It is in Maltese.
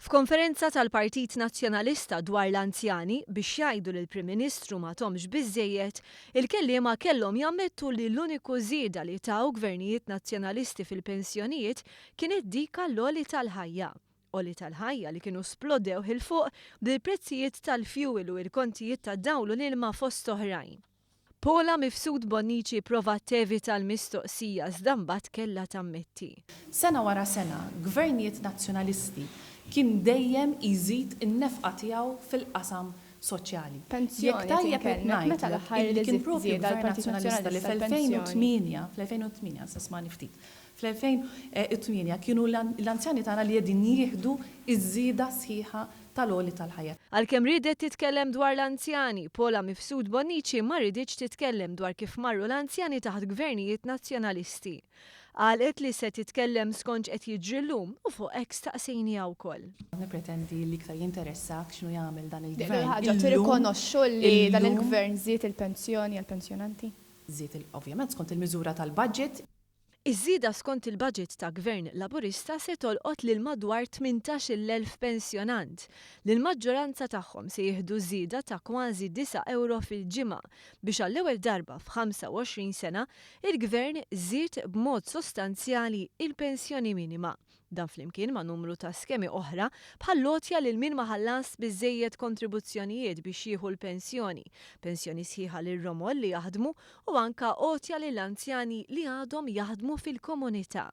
F'konferenza tal-Partit Nazzjonalista dwar l-anzjani biex jgħidu li l-Prim Ministru ma tomx biżżejjed, il-kelliema kellhom jammettu li l-uniku żieda li taw Gvernijiet Nazzjonalisti fil-pensjonijiet kienet dik għall-għoli tal-ħajja. Għoli tal-ħajja li kienu splodew 'il fuq bl-prezzijiet tal-fjuwil u l-kontijiet tad-dawl u l-ilma fost oħrajn. Paula Mifsud Bonnici provat tevita l-mistoqsija iżda mbagħad kellha tammetti. Sena wara sena, Gvernijiet Nazzjonalisti kien dejjem iżid in-nefqa tiegħu fil-qasam soċjali. Jekk tajjeb qed ngħidlek illi kien propju Gvern Nazzjonalista li fl-2008, fl-2008, issa smagħni ftit, Fl-2008 kienu l-anzjani tagħna li qegħdin jieħdu ż-żieda sħiħa tal-għoli tal-ħajja. Għalkemm riedet titkellem dwar l-anzjani, Paula Mifsud Bonnici ma ridietx titkellem dwar kif marru l-anzjani taħt gvernijiet Nazzjonalisti. Qalqet li se titkellem skont x'qed jiġri llum u fuq hekk staqsejniha wkoll. Nippretendi li iktar jinteressak x'inhu jagħmel dan il-gvern illum. L-ewwel ħaġa tirrikonoxxu li dan il-gvern żied il-pensjoni għall-pensjonanti? Żied, ovvjament, skont il-miżura tal-budget. Iż-żieda skont il-Baġit ta' Gvern Laburista se tolqot lil madwar 18-il elf pensjonant, li l-maġġoranza tagħhom se jieħdu żieda ta' kważi disa' ewro fil-ġimgħa biex għall-ewwel darba f'ħamsa-u-għoxrin sena il-Gvern żied b'mod sostanzjali il-pensjoni minima Dan flimkien ma' numru ta' skemi oħra bħall-għotja lil min ma ħallasx biżżejjed kontribuzzjonijiet biex jieħu l-pensjoni, pensjoni sħiħa lir-romol li jaħdmu u anke għotja lil anzjani li għadhom jaħdmu fil-komunità.